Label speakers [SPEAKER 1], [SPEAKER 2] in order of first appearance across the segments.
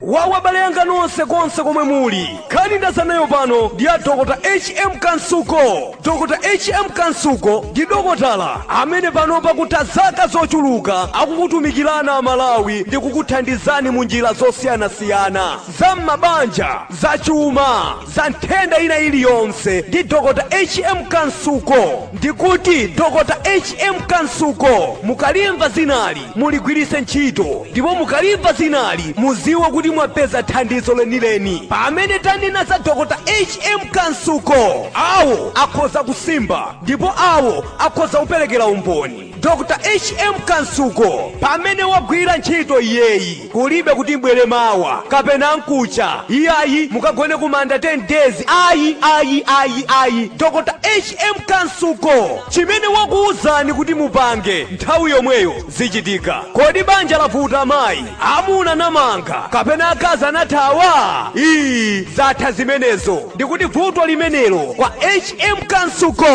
[SPEAKER 1] wawa abale anga nonse konse komwe muli nkhani ndadza nayo pano ndi a dokotala hm kansuko dokotala hm kansuko ndi dokotala amene pano pakutha zaka zochuluka akukutumikirana amalawi ndi kukuthandizani mu njira zosiyanasiyana za m'mabanja za chuma za nthenda ina iliyonse ndi Dr. HM Kansuko ndikuti Dr. HM Kansuko mukalimva dzinali muligwiritse ntchito ndipo mukalimva dzinali mudziwe kuti mwapeza thandizo lenileni pamene tanena za Dr. HM Kansuko awo akhoza kusimba ndipo awo akhoza kuperekera umboni Dr HM Kansuko pamene wagwira ntchito iyeyi kulibe kuti mubwere mawa kapena mkuja iyayi mukagone kumanda 10 days ayi ayi ayi ayi Dr HM Kansuko chimene wakuwuzani kuti mupange nthawi yomweyo zichitika kodi banja lavuta mayi amuna anamanga kapena akazi anathawa iyi zatha zimenezo ndikuti vuto limenelo kwa hm kansuko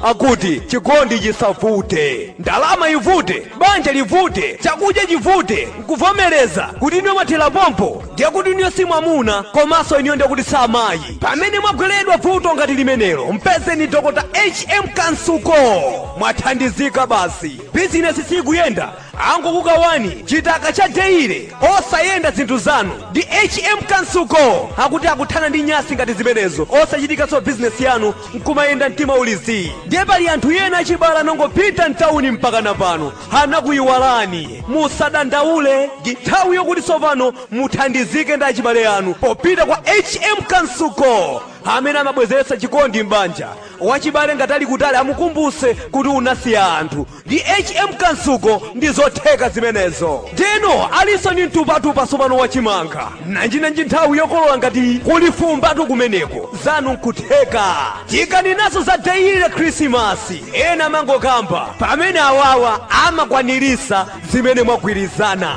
[SPEAKER 1] akuti chikondi chisavute ndalama ivute banja livute chakudya chivute nkuvomereza kuti inuyo mwathera pompo ndiye kuti inuyo si mwamuna komanso inuyo ndiye kuti si amayi pamene mwagweredwa vuto ngati limenelo mpezeni dokota hm kansuko mwathandizika basi bizinesi sikuyenda angokukawani chitaka cha deire osayenda zinthu zanu ndi hm kansuko akuti akuthana ndi nyansi ngati zimenezo osachitikanso bizinesi yanu nkumayenda mtima uli zii ndiye pali anthu ena achibala anangopita mtawuni mpakana pano anakuyiwalani musadandaule ndi nthawi yokuti tsopano muthandizike ndi achibale anu popita kwa hm kansuko amene amabwezeretsa chikondi m'banja wachibale ngati ali kutali amukumbuse kuti unasiya anthu Ndi HM Kansuko ndizotheka zimenezo. Ndiyeno alinso ndi mtupatupa tsopano wa chimanga. Nanjinanji nthawi yokolola ngati iyi kuli fumbatu kumeneko. Zanu nkutheka. Tikanenanso za dayili la Khrisimasi. Ena amangokamba pamene awawa amakwaniritsa zimene mwagwirizana.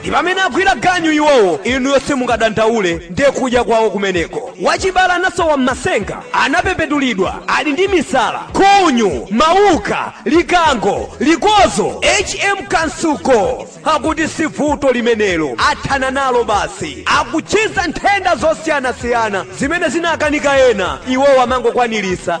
[SPEAKER 1] ndi pamene agwira ganyu iwowo inuyo simungadandaule ndiye kudya kwawo kumeneko wachibale anasowa m'masenga anapepetulidwa ali ndi misala khunyu mauka likango likodzo hm kansuko akuti si vuto limenelo athana nalo basi akuchiza nthenda zosiyanasiyana zimene zinakanika ena iwowo amangokwaniritsa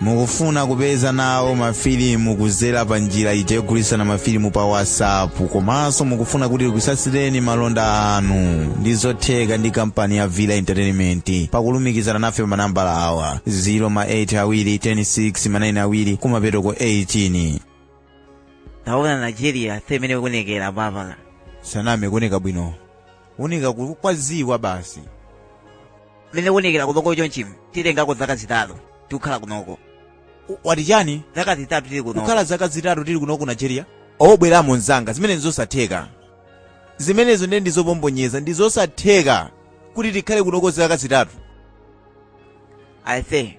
[SPEAKER 1] mukufuna kupeza nawo mafilimu kuzera pa njira ija yogulitsana mafilimu pa whatsapp komanso mukufuna kuti tikutsatsireni malonda anu ndi zotheka ndi kampani ya villa entertainment pakulumikizana nafe pa manambala awa 0 ma 8 awiri 10 6 ma 9 awiri kumapeto ko 18 taona nigeria ase mmene kuonekera papala saname kuoneka bwino kuoneka ku- kwa zii kwa basi mmene kuonekera kunoko chonchimu tikhalako zaka zitatu tikukhala kunoko wati chani zaka zitatu tili kunoko kukhala zaka zitatu tili kuno ku nigeria o bwera mo mzanga zimenezi ndizosatheka zimenezo ndiye ndizopombonyeza ndizosatheka kuti tikhale kunoko zaka zitatu aise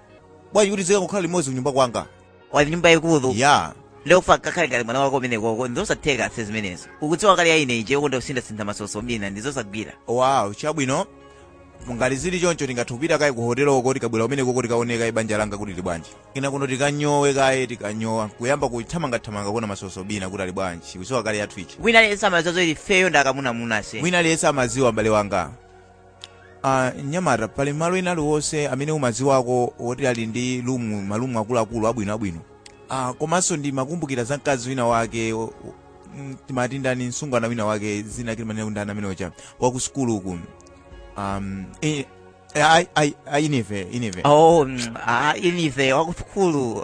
[SPEAKER 1] bwanji kuti tizikangokhala limodzi kunyumba kwanga kuli nyumba yayikulu ija ndikufuna ukakhale ngati mwana kwako umenekoko ndizosatheka ase zimenezo ukudziwa kale ija ine ija ndimakonda kusintha-sintha masoso ina ndizosagwira wow chabwino ngati zili choncho tingathe kupita kaye ku hotelo uko tikabwerera umenekoko tikaone kaye banja langa kuti lili bwanji kenako tikanyowe kaye tikanyowa kuyamba kuthamangathamanga kuona masoso ena kuti ali bwanji ukudziwa kale yathu ija wina aliyense amadziwa zoti ifeyo ndi akamunamuna ase wina aliyense amaziwa mbale wanga Ah, mnyamata pali malo ena aliwonse amene umadziwako woti ali ndi rumu marumu akuluakulu abwino abwino ah, komanso ndimakumbukira za mkazi wina wake o- o- mm, timati ndani msungwana wina wake dzina lake timanena kuti ndani amene uja waku sukulu uku um, eh, eh, ai- ai- ai- inive inive oh mm, ah, inive wakusukulu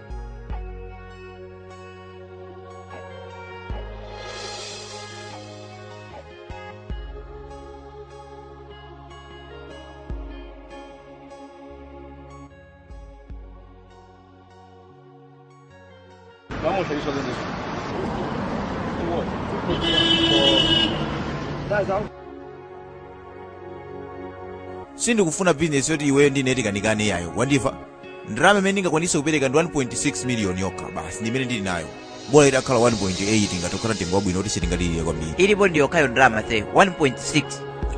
[SPEAKER 1] sindikufuna bizinesi yoti iweyo ndine tikanikane yayo wandimva ndalama imene ndingakwanitse kupereka ndi 1.6 miliyoni yokha basi ndi imene ndili nayo bola itakhala 1.8 ingathe kukhala mtengo wabwino kuti tisangovutikira kwambiri ilipo ndi yokhayo ndalama ase 1.6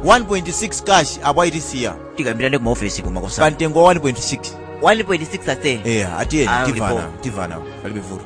[SPEAKER 1] 1.6 cash apo ayi tisiya tikambirane kuma ofesi pa kumakonza mtengo wa 1.6 1.6 ase eya atiyeni Ah, timvana ulipo. timvana palibe vuto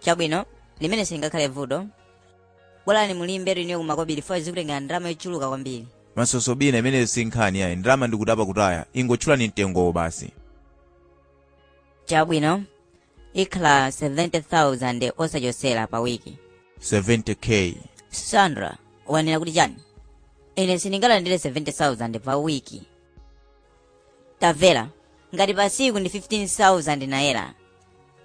[SPEAKER 1] chabwino limenelo silingakhale vuto bolani mulimbetu inuyo kumakobiri fo zikutengera ndalama yochuluka kwambiri mansoso bwana imeneyo si nkhani yayi ndalama ndi kutapa kutaya ingotchulani mtengowo basi chabwino ikhala 70000 osachosera pa wiki 70k sandra ukunena kuti chani ine sindingalandire 70000 pa wiki tamvera ngati pa siku ndi 15000 naira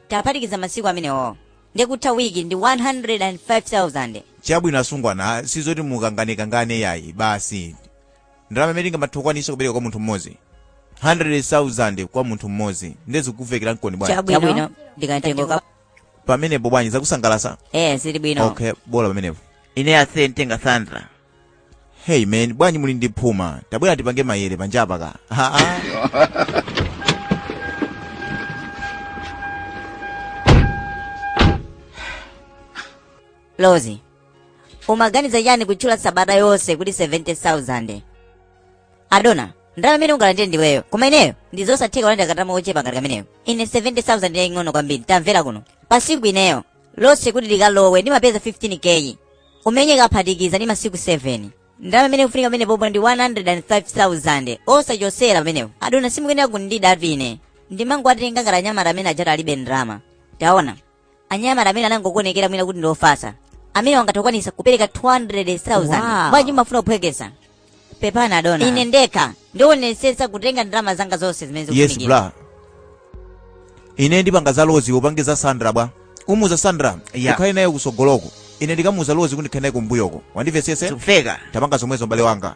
[SPEAKER 1] ukaphatikiza masiku amenewo ndiye kutha wiki ndi 105000 chabwino asungwana sizoti mukanganekangane yayi basi ndalama imene tingamathe kukwanitsa kupereka kwa munthu mmodzi 100000 kwa munthu mmodzi ndiye zikukuvekera mkoni bwanji chabwino ndi kamtengo ka pamenepo bwanji zakusangalasa eh zili bwino okay bola pamenepo ine ase nditenga sandra hey man bwanji muli ndi phuma tabwera tipange mayere panjapa kaye haa lozi umaganiza chani kutchula sabata yonse kuti 70000 adona ndalama imene ungalandire ndiweyo koma ineyo ndi zosatheka kulandira kandalama kochepa ngati kameneko ine 70000 ndi yaying'ono kwambiri tamvera kuno pa siku ineyo lonse kuti likalowe ndimapeza 15k imene ukaphatikiza ndi masiku 7 ndalama imene ikufunika pamenepopo ndi 105000 osachosera pamenepo adona simukuyenera kundidabwatu ine ndimangowatenga ngati anyamata amene ajatu alibe ndalama taona anyamata amene anangokuonekera mwina kuti ndi ofasa amene angathe kukwanisa kupereka 200000 Wow. bwanji mwafuna kuphwekesa pepani adona ine ndekha ndionesetsa kutenga ndalama zanga zonse zimene yes zikufunikira bra ine ndipanga za lozi upange za sandra bwanji umuuza sandra Yeah. ukhale naye kusogoloko ine ndikamuuza lozi kuti ndikhale naye kumbuyoko wandivesesa zikuveka tipanga zomwezo mbale wanga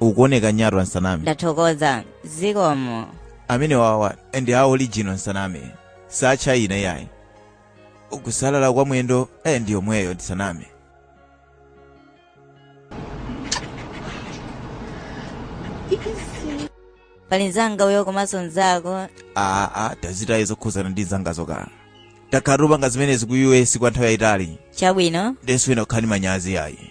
[SPEAKER 1] ukuoneka nyatwa nsaname ndathokoza zikomo amene wawa ndi a original nsaname sacha ina iyayi kusalala kwa mwendo eh, ndi yomweyo ndisaname pali mzanga uyo komanso mzako aa tazitaye zokhuzana ndi nzanga zokala takhala tikupanga zimenezi ku us kwa nthawi yayitali chabwino ndenso sindikukana manyazi yayi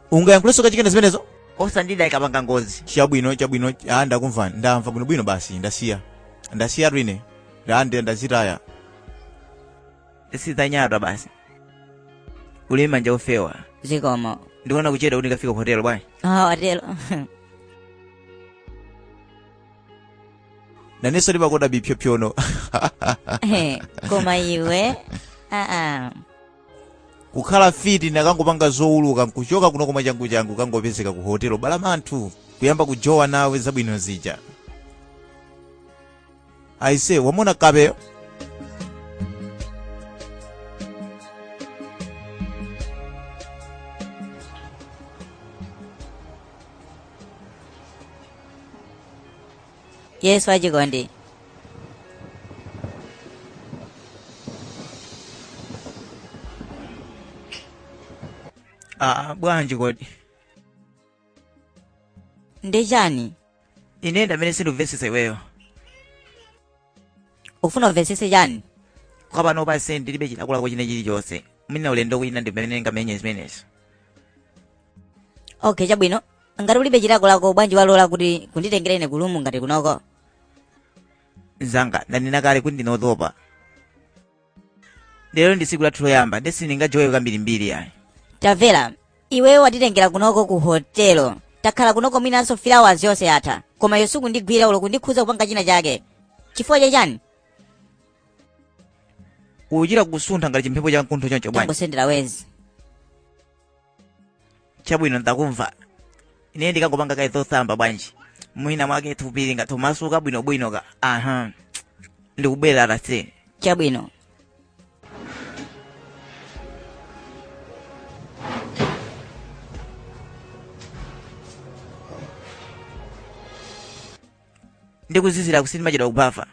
[SPEAKER 1] ungayankhulenso kachikena zimenezo osandida ikapanga ngozi chabwino chabwino ah ndakumva ndamva bwinobwino basi ndasiya ndasiya ine ndande ndazitaya sizanyatwa basi uli manja ofewa zikomo ndikuona kuchedwa kuti ndikafika ku hotelo bwanji ah watero nawenso ndimakonda bipyopyono Eh, koma iwe aa kukhala fiti ndikanangopanga zowuluka nkuchoka kuno koma changu changu ndikangopezeka ku hotelo balamanthu kuyamba kujowa nawe zabwino zija aise wamona kapeyo yes achikondi ah bwanji kodi ndi chani ine ndiamene sindimvetsesa iweyo ufuna umvetsese chani kwa panopa ndiye ndilibe chilakolako china chilichonse mwina ulendo wina ndimene ndingamenye zimenezo okay chabwino ngati ulibe chilakolako bwanji walola kuti unditengere ine kulumu ngati kunoko mzanga ndanena kale kuti ndine otopa lero ndi tsiku lathu loyamba nde sindingajowe kambirimbiri ayi tamvera iweyo wanditengera kunoko ku hotelo takhala kunoko mwinanso three hours yonse yatha koma iwe sukundigwira olo kundikhudza kupanga china chake chifukwa chachani kuchita kusuntha ngati chimphepo cha mkuntho choncho bwanji tangosendera wezi chabwino ndakumva ine ndikangopanga kaye zotsamba bwanji mwina mwake thupi lingathe kumasuka bwinobwino ka aha ndikubwera posachedwa chabwino ndikozizira uku sindimachedwa kubafa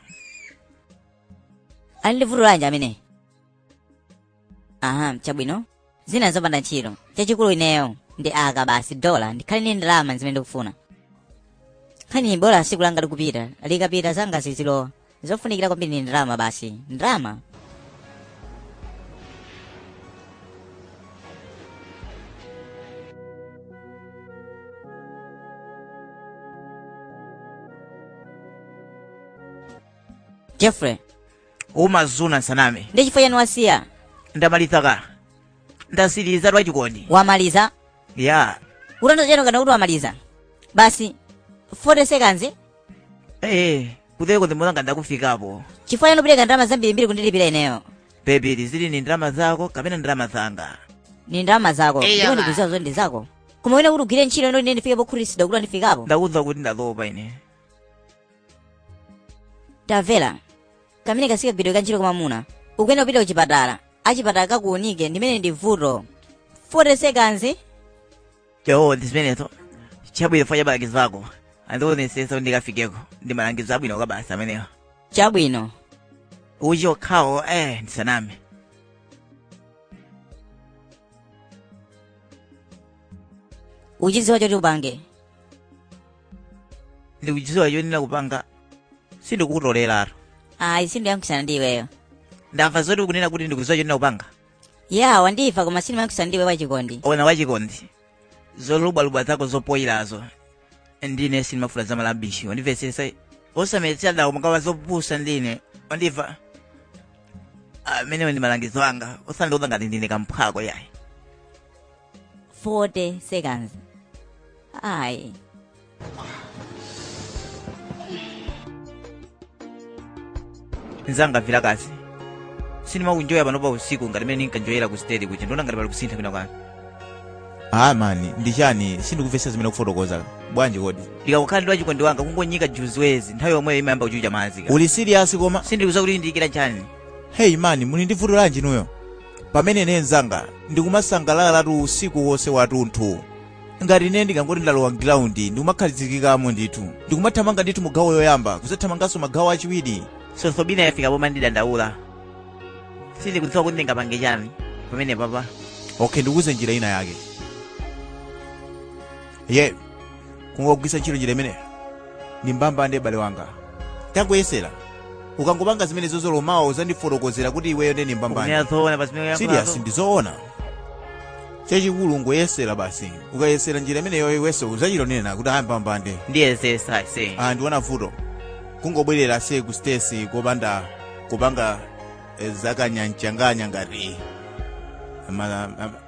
[SPEAKER 1] ali ndi vuto lanji amene aha chabwino zina zopanda ntchito chachikulu ineyo ndi aka basi dola ndikhale ndi ndalama zimene ndikufuna ndikhale bola tsiku langa likupita likapita zanga zizilowa zofunikira kwambiri ndi ndalama basi ndalama jeffrey umadziwa ndisaname ndi chifukwa chani wasiya ndamaliza ka ndatsiriza wachikondi wamaliza ya utandiza chani ukana kuti wamaliza basi 40 seconds eh kuthekoko ndimulanga ndakufikapo chifukwa chani upereka ndalama zambirimbiri kundilipira ineyo bebili zili ni ndalama zako kapena ndalama zanga ni ndalama zako Iya, ndipo ma. ndikudziwa zoti ndi zako koma ndikufuna kuti ugwire ntchito ino ine ndifike pokhutitsidwa kuti andifikapo ndakuuza kuti ndatopa ine tamvera amene kasiya kagwiridwe ka ntchito kwa mamuna ukuyenera kupita kuchipatala achipatala kakuunike ndimwe muli ndi vuto 40 seconds ndi zimenezo chabwino potsatira malangizo ako andionetsetsa kuti ndikafikeko ndi malangizo abwino kwabasi amenewa chabwino uchite okhawo eh ndisaname ukuchidziwa choti upange ndikuchidziwa choyenera kupanga sindikutoleratu ayi sindiyankhusana ndi iweyo ndamva zoti ukunena kuti ndikudziwa choyenera kupanga ya wandimva koma sindiyankhusana ndi iwe wachikondi ona wachikondi zolubwalubwa zako zopoyirazo ndine sindimafuna za malabishi wandimvetsetsa osamandiuza zopusa ndine wandimva amenewo ndi malangizo anga osandiuza ngati ndine kamphwako yayi 40 seconds ayi nzanga mvera akazi sindimaenjoya panopa usiku ngati mene ndinkaenjoyera ku stage kuja ndiona ngati pali kusintha kwina kwake ah mani ndi chani sindikumvetsa zimene ukufotokoza bwanji kodi ndikakhala ndi wachikondi wanga kungonyika juziwezi nthawi yomweyo imayamba kuchucha madzika. uli serious koma sindikudziwa kuti ndikulira chani hey mani muli ndi vuto lanji inuyo pamene ine nzanga ndikumasangalalatu usiku wonse wathunthu ngati ine ndikangoti ndalowa mgiraundi ndikumakhazikikamo ndithu ndikumathamanga ndithu mu gawo yoyamba kuzathamanganso mu gawo lachiwiri tsopano yafika pomwe ndidandaula sindikudziwa kuti ndingapange chani pamene papa okay ndikuuze njira ina yake ye kungogwiritsa ntchito njira imeneyo ndi mbambande m'bale wanga tangoyesera ukangopanga zimenezozo mawa uzandifotokozera kuti iweyo ndi mbambande Kumenya zoona pa zimene serious uyankhulazo. ndizoona chachikulu n'kuyesera basi ukayesera njira imeneyo iweso uzachitonena kuti ayi mbambande Ndiyesesa ase. ah ndiona vuto kungobwerera ase ku stesi kopanda kupanga eh, zakanyanchanganya ngati ma- ma-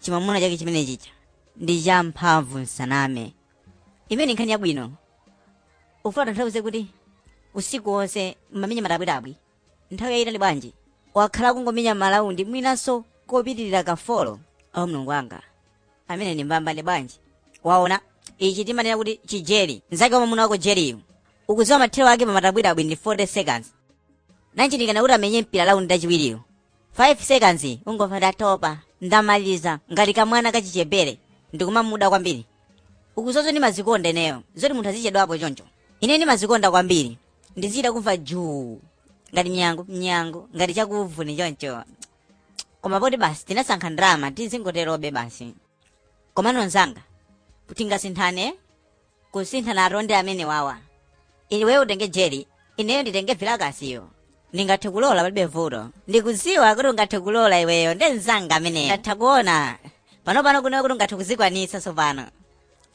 [SPEAKER 1] chimamuna chake chimene chicha ndi champhamvu musaname imene ndi nkhani yabwino ukufuna utanthauze kuti usiku wonse mmamenya matabwitabwi nthawi yayitali bwanji wakhala kungomenya malaundi mwinanso kopitirira kafolo awo mlungu wanga amene ndi mbambane bwanji waona ichi timanena kuti chijeri mzake wamamuna wako jeriyu ukudziwa mathero ake pamatabwitabwi ndi 40 seconds nanji ndikana kuti amenye mpira laundi lachiwiriyo 5 seconds ungomva ndatopa ndamaliza ngati kamwana kachichepere ndimamuda kwambiri ukuzozo ndimazikonda ineyo zoti munthu azichedwapo choncho ine ndimazikonda kwambiri ndizida kumva juu ngati mnyango mnyango ngati chakuvuni choncho koma poti basi tinasankha ndalama tizingoterobe basi komano nzanga tingasinthane kusinthana utolendi amene awawa iwe utenge jeri ineyo nditenge vilakasiyo ndingathe kulola palibe vuto ndikuziwa kuti ungathe kulola iweyo ndi mzanga ameneyo ndatha kuona panopano kunewe kuti ungathe kuzikwanisa tsopano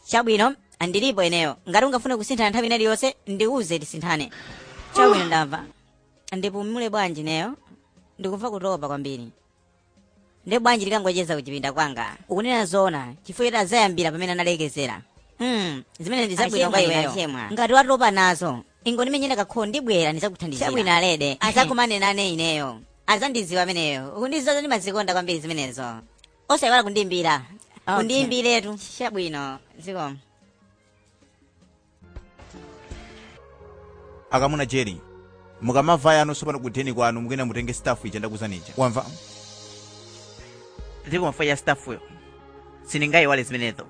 [SPEAKER 1] chabwino ndilipo ineyo ngati ungafune kusinthana nthawi ina iliyonse ndiuze tisinthane chabwino ndamva ndipumule bwanji ineyo ndikumva kutopa kwambiri nde bwanji tikangocheza kuchipinda kwanga ukunena zoona chifukwa choti azayambira pamene analekezera hmm zimene ndi zabwino kwa Achemwa, iweyo achemwa. ngati watopa nazo ingondimenyera kakolo ndibwera ndizakuthandizira chabwino olledi azakumane nane ineyo azandiziwa ameneyo kundiziwa zoti ndimazikonda kwambiri zimenezo osayiwala kundimbira Okay. kundimbiretu chabwino zikomo akamuna jeri mukamabwera inu sopano kudheni kwanu mukuyenda mutenge stuff ija ndakuuzani ija wamva ndikumva bwa ya stuffyo sindingayiwale zimenezo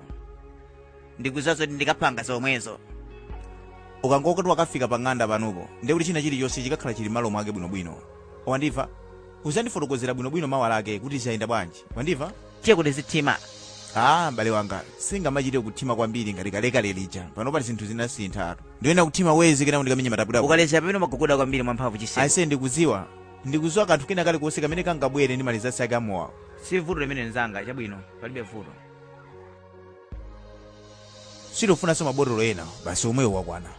[SPEAKER 1] ndikuziwa zoti ndikapanga zomwezo ukangoti wakafika pa ng'anda panupo ndiye kuti china chilichonse chikakhala chili malo mwake bwinobwino wandimva uzandifotokozera bwinobwino mawa lake kuti zayenda bwanji wandimva tiyeku tizithima ah m'bale wanga sindingamachite kuthima kwambiri ngati kalekale lija panopatu zinthu zinasinthatu ndikuona kuthima wezi kenako ndikamenya mataputa ukaleza pamene umagogoda kwambiri mwamphamvu chiseko aise ndikudziwa ndikudziwa kanthu kena kalikonse kamene kangabwere ndi malizasi ake amowawo si vuto limenelo nzanga chabwino palibe vuto sitikufunanso mabotolo ena basi omwewo wakwana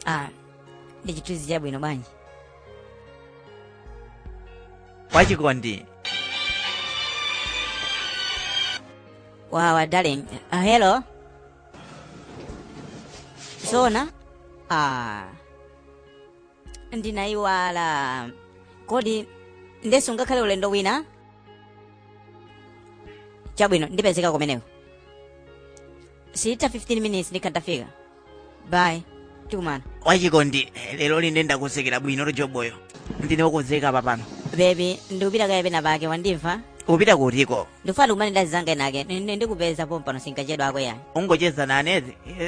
[SPEAKER 1] ah ndi chithunzi chabwino bwanji wachikondi wawa darling ah, hello zona ah ndinayiwala kodi ndenso ngakhale ulendo wina chabwino ndipezeka kumeneko siitha 15 minutes ndikhala ndafika bye tikumana wachikondi lero lino ndakonzekera bwino lojoboyo ndine wokonzeka apa pano bebi ndikupita kaye pena pake wandimva kupita kutiko ndikufuna tikumane ndi azanga enaake Ni- ni- ndikupeza pompano sindikachedwa akowo eyani ungocheza nane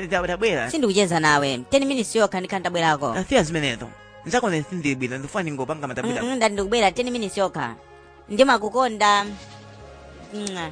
[SPEAKER 1] tabwera sindikucheza nawe 10 minutes yokha ndikhala ndabwerako aa siya zimenezo nzakonze sindili bwino ndifuna ndingopanga matabwera Mm, mm, ndati ndikubwera 10 minutes yokha ndimakukonda Mwah.